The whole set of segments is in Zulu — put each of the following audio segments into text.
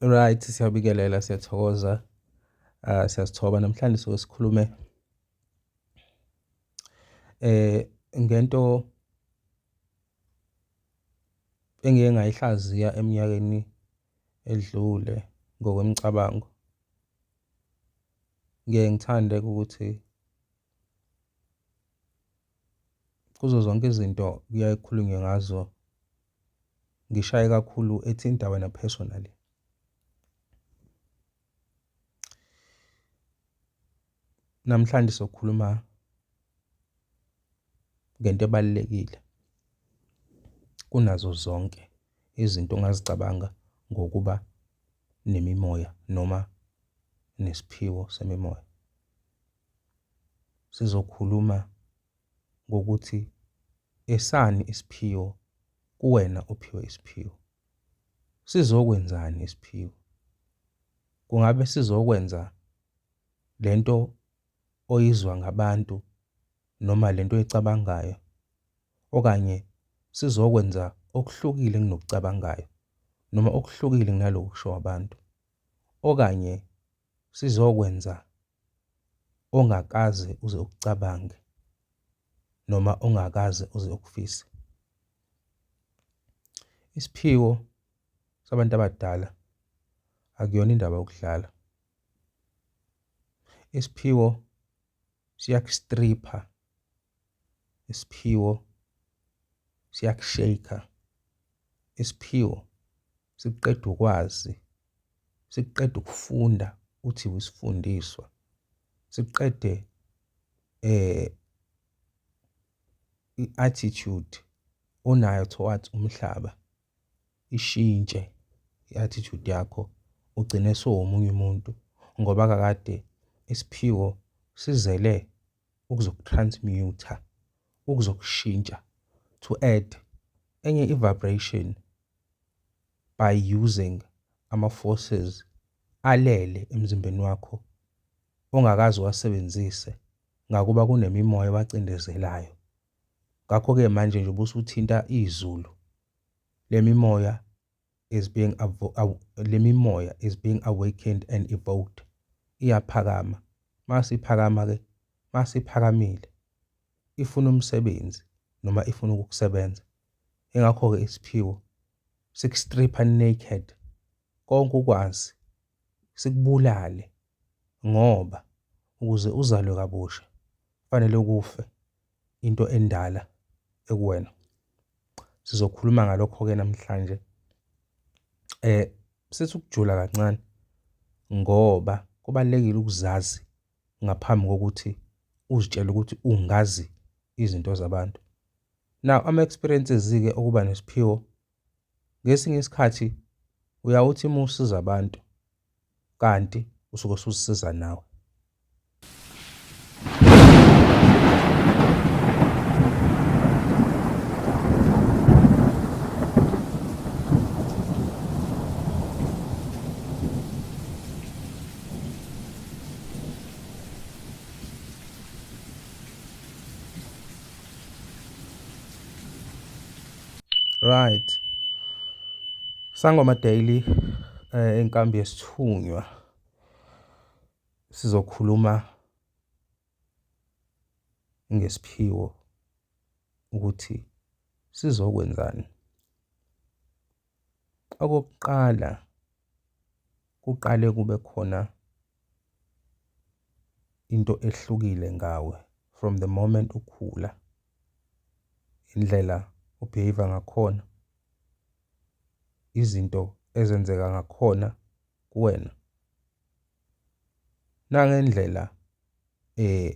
Right, siyabikelela siyathokoza. Ah siyasithoba namhlanje soke sikhulume eh ngento engike ngayihlaziya eminyakeni edlule ngokwemicabango ngiye ngithande ukuthi kuzo zonke izinto kuyaye kukhulunywe ngazo ngishaye kakhulu ethinta wena personally namhlanje sokhuluma ngento ebalulekile kunazo zonke izinto ongazicabanga ngokuba nemimoya noma nesiphiwo semimoya. Sizokhuluma ngokuthi esani isiphiwo kuwena ophiwe isiphiwo. Sizokwenzani isiphiwo? Kungabe sizokwenza le nto oyizwa ngabantu noma le nto oyicabangayo okanye sizokwenza okuhlukile enginokucabangayo noma okuhlukile kunaloku kusho abantu, okanye sizokwenza ongakaze uze ukucabange noma ongakaze uze ukufise. Isiphiwo sabantu abadala akuyona indaba yokudlala. Isiphiwo siyakustripha isiphiwo siyakushayker isiphiwo sikuqeda ukwazi sikuqeda ukufunda uthi usifundiswa sikuqede eh i-attitude onayo towards umhlaba ishintshe i-attitude yakho ugcine sowumunye umuntu ngoba kakade isiphiwo sizele ukuzokutransmuter, ukuzokushintsha, to add, enye i-vibration by using ama-forces alele emzimbeni wakho ongakaze uwasebenzise ngakuba kunemimoya ebacindezelayo. Ngakho-ke manje nje ubusuthinta izulu, le mimoya is being le mimoya is being awakened and evoked iyaphakama mase iphakama ke mase iphakamile ifuna umsebenzi noma ifuna ukukusebenza ingakho ke isiphiwo sikustripha naked konke ukwazi sikubulale ngoba ukuze uzalwe kabusha kufanele kufe into endala ekuwena. Sizokhuluma ngalokho-ke namhlanje. Eh sithi ukujula kancane ngoba kubalulekile ukuzazi ngaphambi kokuthi uzitshele ukuthi ungazi izinto zabantu. Now ama-experiences-ke okuba nesiphiwo Ngesinye isikhathi uyawuthi uma usiza abantu kanti usuke usuzisiza nawe. Right. Sangoma Daily eh, inkambi yesithunywa sizokhuluma ngesiphiwo ukuthi sizokwenzani. Okokuqala kuqale kube khona into ehlukile ngawe from the moment ukhula indlela obehave ngakhona izinto ezenzeka ngakhona kuwena nangendlela eh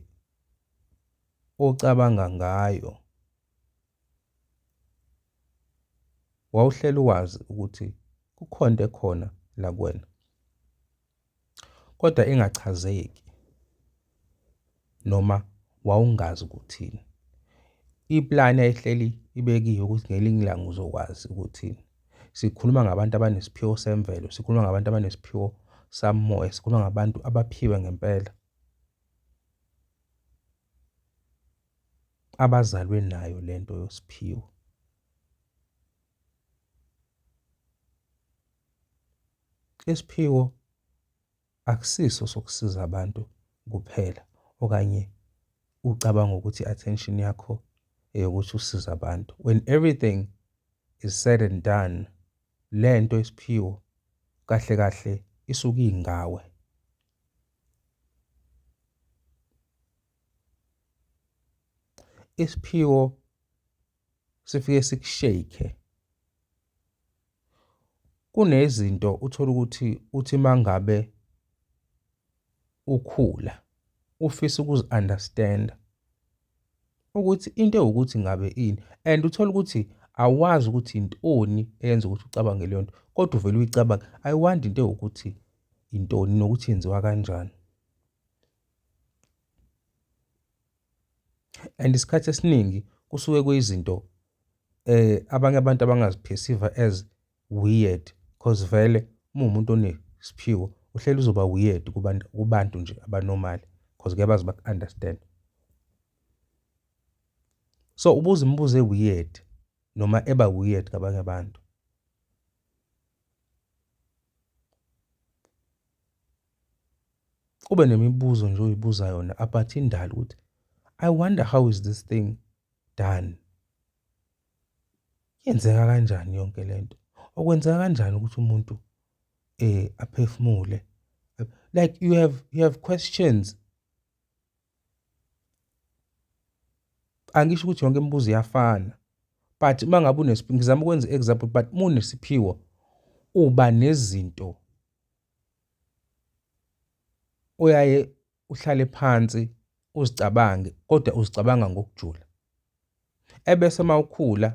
ocabanga ngayo wawuhleli wazi ukuthi kukhona ekhona la kuwena kodwa ingachazeki noma wawungazi ukuthini iplani ayihleli ibekiwe ukuthi ngelinye ilanga uzokwazi ukuthini sikhuluma ngabantu abanesiphiwo semvelo sikhuluma ngabantu abanesiphiwo samoya sikhuluma ngabantu abaphiwe ngempela abazalwe nayo lento yosiphiwo Isiphiwo akusiso sokusiza abantu kuphela okanye ucabanga ukuthi i-attention yakho eyokuthi usiza abantu. When everything is said and done, le nto isiphiwo kahle kahle isuke ingawe. Isiphiwo sifike sikushake kunezinto uthola ukuthi uthi mangabe ukhula ufisa ukuzi-understand ukuthi into ewukuthi ngabe ini and uthola ukuthi awazi ukuthi intoni eyenza ukuthi ucabange leyo nto kodwa uvele uyicabange i wonder into ewukuthi intoni nokuthi yenziwa kanjani and isikhathi esiningi kusuke kuyizinto eh abanye abantu abangaziphesiva as weird cause vele uma umuntu onesiphiwo uhleli uzoba weird kubantu kubantu nje abanormal cause ngeke bazi baku-understand so ubuza imibuzo e-weird noma eba weird kabanye abantu ube nemibuzo nje oyibuza yona about indalo ukuthi i wonder how is this thing done yenzeka kanjani yonke lento okwenzeka kanjani ukuthi umuntu eh aphefumule like you have you have questions angisho ukuthi yonke imibuzo iyafana but uma ngabe unesiphiwo ngizama ukwenza i-example but munesiphiwo uba nezinto Uyaye uhlale phansi uzicabange kodwa uzicabanga ngokujula. Ebese uma ukhula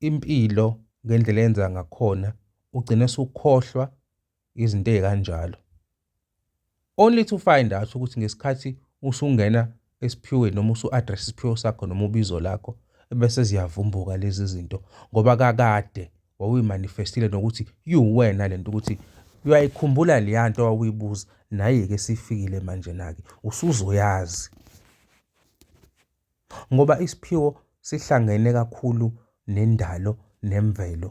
impilo ngendlela eyenza ngakhona ugcine usukhohlwa izinto ey'kanjalo. Only to find out ukuthi ngesikhathi usungena esiphiweni noma usu-address isiphiwo sakho noma ubizo lakho ebese ziyavumbuka lezi zinto ngoba kakade wawuyimanifestile nokuthi iwuwena le nto ukuthi uyayikhumbula leya nto wawuyibuza naye-ke sifikile manje nake usuzoyazi ngoba isiphiwo sihlangene kakhulu nendalo nemvelo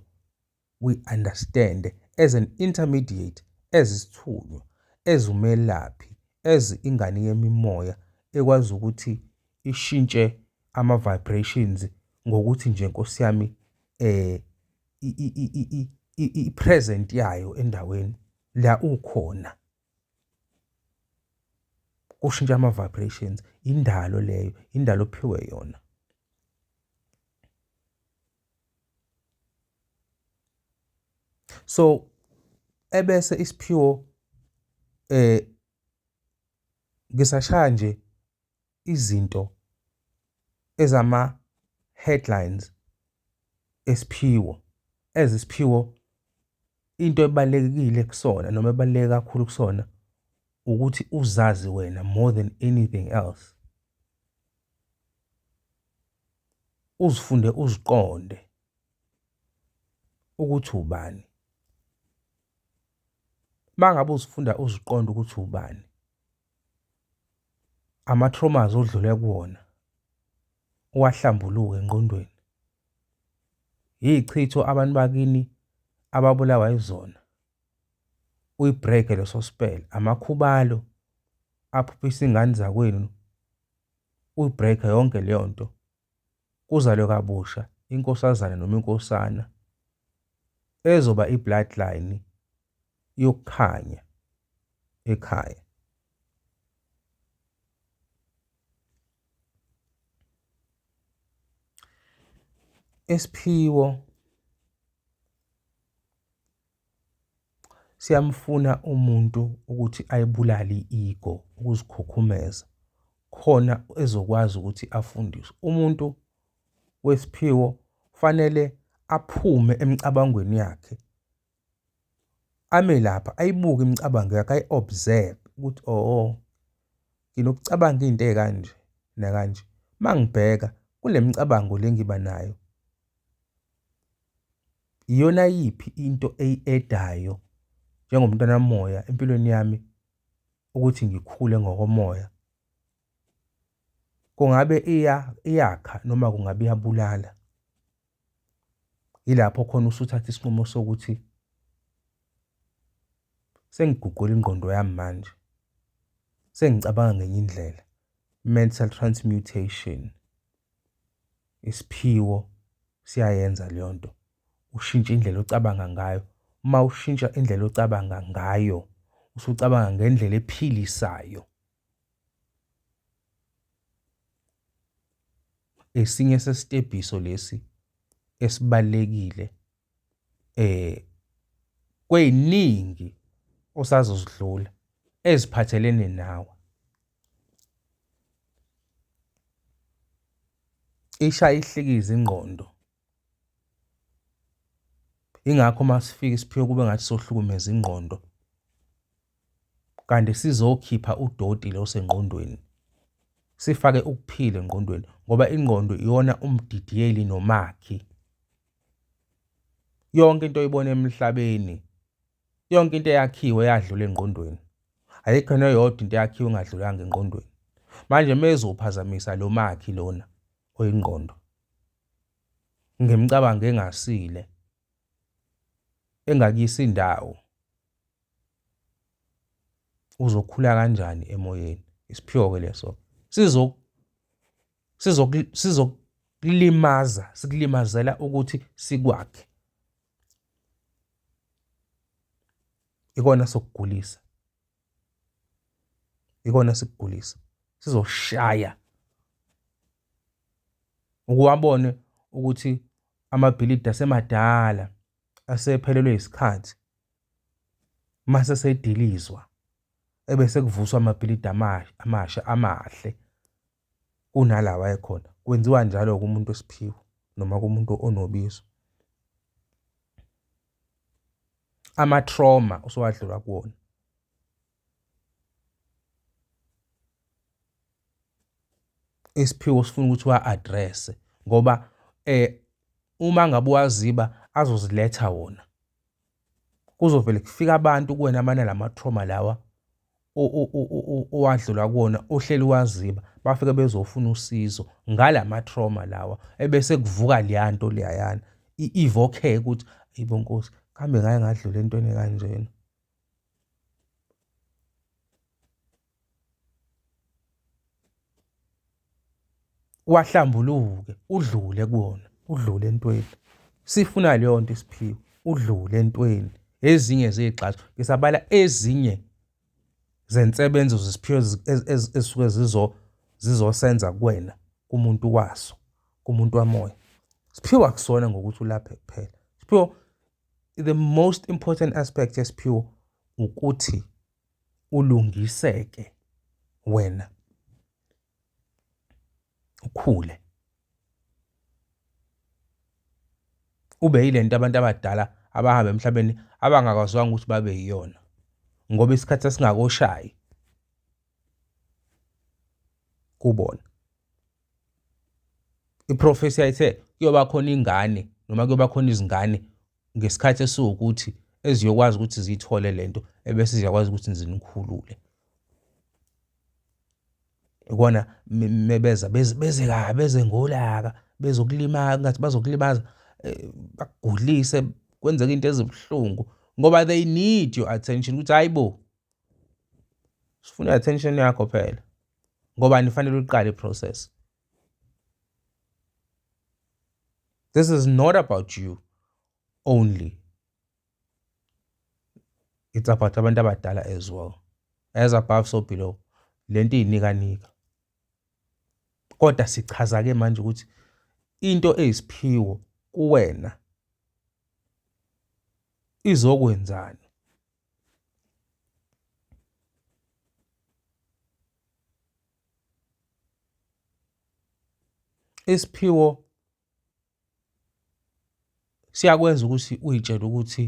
we understand as an intermediate as isithunywa as umelaphi as ingane yemimoya ekwazi ukuthi ishintshe ama vibrations ngokuthi nje Nkosi yami eh i present yayo endaweni la ukhona kushintsha ama vibrations indalo leyo indalo ophiwe yona so ebese isiphiwo eh ngisashaya nje izinto ezama headlines esiphiwo ezisiphiwo into ebalekile kusona noma ebaleke kakhulu kusona ukuthi uzazi wena more than anything else uzifunde uziqonde ukuthi ubani mangabe uzifunda uziqonde ukuthi ubani ama-traumas odlule kuwona uwahlambuluke engqondweni yichitho abantu bakini ababulawa izona uyibreak leso spell amakhubalo aphuphisa ingane zakwenu uyi-break-e yonke leyo nto, kuzalwe kabusha inkosazane noma inkosana ezoba i-bloodline yokukhanya ekhaya. Isiphiwo Siyamfuna umuntu ukuthi ayibulale i-ego ukuzikhukhumeza khona ezokwazi ukuthi afundiswe. Umuntu wesiphiwo kufanele aphume emicabangweni yakhe ame lapha ayibuke imicabango yakhe ayi-observe ukuthi oho nginokucabanga into ey'kanje nakanje. Uma ngibheka kule micabango le engiba nayo. Iyona yiphi into eyi-edayo njengomntwana moya empilweni yami ukuthi ngikhule ngokomoya? Kungabe iya iyakha noma kungabe iyabulala? Yilapho khona usuthatha isinqumo sokuthi sengiguqula ingqondo yami manje, sengicabanga ngenye indlela. mental transmutation isiphiwo siyayenza leyo nto ushintshe indlela ocabanga ngayo uma ushintsha indlela ocabanga ngayo usucabanga ngendlela ephilisayo esinye sesitebhiso lesi esibalekile eh kweziningi osazozidlula eziphathelene nawe isha ihlikiza ingqondo ingakho uma sifika isiphiwo kube ngathi sohlukumeza ingqondo kanti sizokhipha udoti lo sengqondweni sifake ukuphila engqondweni ngoba ingqondo iyona umdidiyeli nomakhi Yonke into oyibona emhlabeni, yonke into eyakhiwe yadlula engqondweni. Ayikho neyodwa into eyakhiwe engadlulanga engqondweni. Manje mezophazamisa lo makhi lona oyingqondo ngemicabango engasile engakuyisa indawo uzokhula kanjani emoyeni isiphiwo ke leso sizo sizokulimaza sikulimazela ukuthi sikwakhe ikona sokugulisa ikona sikugulisa sizoshaya ukuwabone ukuthi amabhilidi asemadala asephelelwe isikhathi mase sedilizwa ebese kuvuswa amabhilidi amasha amahle kunalawa ekhona kwenziwa njalo kumuntu wesiphiwo noma kumuntu onobizo amatrauma usowadlula kuwona isiphiwo sifuna ukuthi wa-address ngoba eh uma ngabe waziba azoziletha wona kuzovele kufike abantu kuwena amana lama-trauma lawa owadlula kuwona ohleli waziba bafike bezofuna usizo ngala ma-trauma lawa ebese kuvuka leya nto leyayana ivokheke ukuthi yibo nkosi kambe ngake ngadlula entweni ekanjena wahlambuluke udlule kuwona udlule entweni sifuna leyo nto isiphiwe udlule entweni ezinye zezigxazo ngisabala ezinye zensebenzo zesiphiwe ezisuke zizo zizosenza kuwena kumuntu waso kumuntu wamoya siphiwe akusona ngokuthi ulaphe kuphela siphiwe the most important aspect yesiphiwo ukuthi ulungiseke wena ukhule ube yilento abantu abadala abahamba emhlabeni abangakwazwanga ukuthi babe yiyona ngoba isikhathi sasingakoshayi kubona iprofesi yayithe kuyoba khona ingane noma kuyoba khona izingane ngesikhathi esiwukuthi eziyokwazi ukuthi ziyithole le nto ebese ziyakwazi ukuthi zinikhulule ikona mebeza beze kabi beze ngolaka bezokulimaza ngathi bazokulimaza eh, bagulise kwenzeka into ezibuhlungu ngoba they need your attention ukuthi hayi bo sifuna attention yakho phela ngoba nifanele uqale process This is not about you only. It's about abantu abadala as well. As above so below. Lento iyinika nika. Kodwa sichaza ke manje ukuthi into eyisiphiwo kuwena izokwenzani Isiphiwo siyakwenza ukuthi uy'tshele ukuthi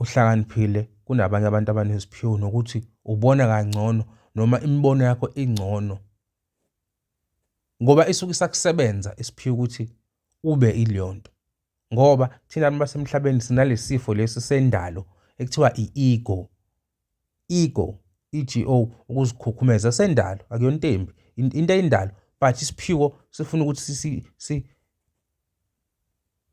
uhlakaniphile kunabanye abantu abaneziphiwo nokuthi ubona kangcono noma imibono yakho ingcono ngoba isuke isakusebenza isiphiwo ukuthi ube ileyo nto. ngoba thina abantu basemhlabeni sinalesifo lesi sendalo ekuthiwa i-ego ego i-go ukuzikhukhumeza sendalo akuyona into embi into eyindalo but isiphiwo sifuna ukuthi si si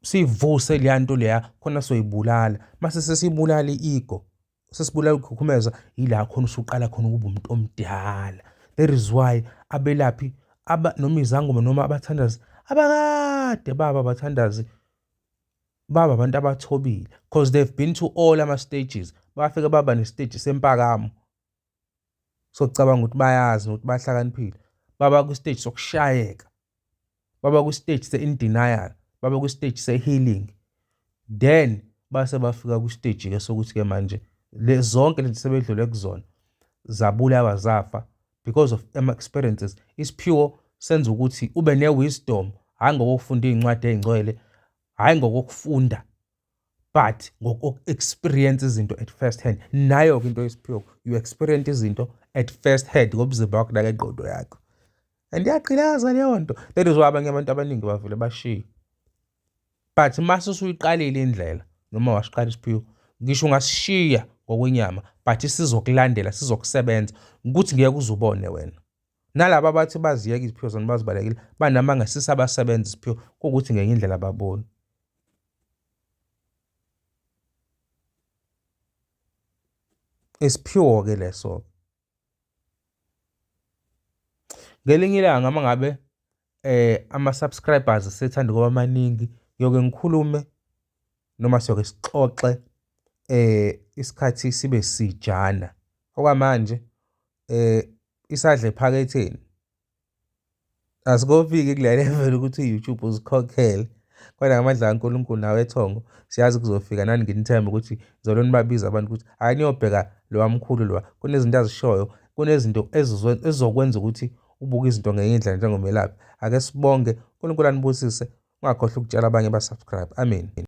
sivuse leya nto leya khona soyibulala mase sesibulala i-ego sesibulala ukukhukhumeza yila khona usuqala khona ukuba umuntu omdala that is why abelaphi aba noma izangoma noma abathandazi abakade baba abathandazi baba abantu abathobile because they've been to all ama stages bafike baba ne stage sempakamo sokucabanga ukuthi bayazi nokuthi bahlakaniphile baba kwistage sokushayeka baba kwistage se-in denial baba kwistage se-healing then base bafika kwistage ke sokuthi ke manje le zonke lento sebedlule kuzona zabulawa zafa because of ama experiences isiphiwo senza ukuthi ube ne wisdom hayi ngokufunda izincwadi ezingcwele hayi ngokufunda but ngoku-experience izinto at first hand nayo-ke into yesiphiwo you experience izinto at first hand ngomzimba wakho nangengqondo yakho and iyagqilaza leyo nto that is why abanye abantu abaningi bavele bashiye but mase usuyiqalile indlela noma wasiqala isiphiwo ngisho ungasishiya ngokwenyama but sizokulandela sizokusebenza ukuthi ngeke uzubone wena Nalaba abathi baziyeka iziphiwo zona bazibalekile banamanga sisabasebenza isiphiwo kuwukuthi ngenye indlela ababoni. Isiphiwo-ke leso-ke. Ngelinye ilanga uma ngabe um ama-subscribers sethanda ukuba maningi ngiyoke ngikhulume noma siyoke sixoxe um isikhathi sibe sijana. Okwamanje um isadla ephaketheni asikofiki kule level ukuthi i-youtube uzikhokhele kodwa ngamadla kankulunkulu nawe ethongo siyazi kuzofika nani nginithembe ukuthi zolo nibabiza abantu ukuthi hhayi niyobheka lowa mkhulu lowa kunezinto azishoyo kunezinto ezizokwenza ukuthi ubuke izinto ngenye indlela njengomelaphi ake sibonge unkulunkulu anibusise ungakhohlwa ukutshela abanye basubscribe amen